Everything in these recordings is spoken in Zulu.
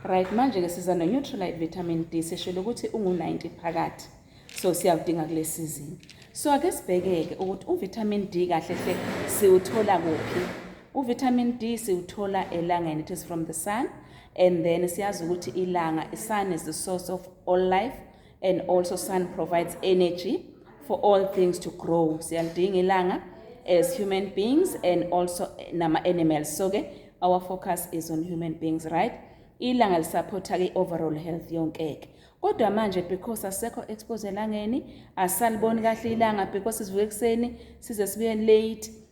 right manje-ke siza no-neutralite vitamin d sishilo ukuthi ungu-90 phakathi so siyawudinga kule sizini so ake sibheke-ke ukuthi uvitamin d kahle hle siwuthola kuphi uvitamin d siwuthola elangeni it is from the sun and then siyazi ukuthi ilanga isun is the source of all life and also sun provides energy for all things to grow siyalidinga ilanga as human beings and also nama-animals so-ke our focus is on human beings right ilanga lisaphotha-ke i-overall health yonkeke kodwa manje because asekho expose elangeni asaliboni kahle ilanga because sivuka ekuseni size sibuye late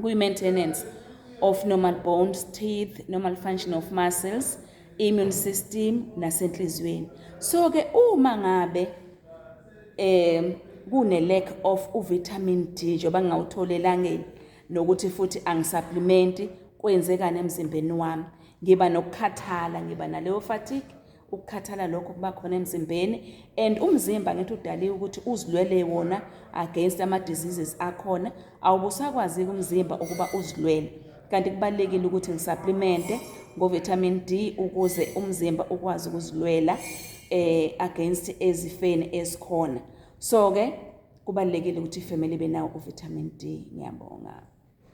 kuyi-maintenance of normal bones teeth normal function of muscles immune system nasenhliziyweni so ke uma ngabe um kune lack of uvitamin D njengoba ngingawutholi elangeni nokuthi futhi angisupplementi kwenzekani emzimbeni wami ngiba nokukhathala ngiba naleyo fatigue ukukhathala lokho kuba khona emzimbeni and umzimba ngithi udaliwe ukuthi uzilwele wona against ama diseases akhona awubusakwaziki umzimba ukuba uzilwele kanti kubalekile ukuthi ngisapplimente ngo vitamin D ukuze umzimba ukwazi ukuzilwela eh against ezifeni esikhona so ke kubalekile ukuthi ifamily benawo u vitamin D ngiyabonga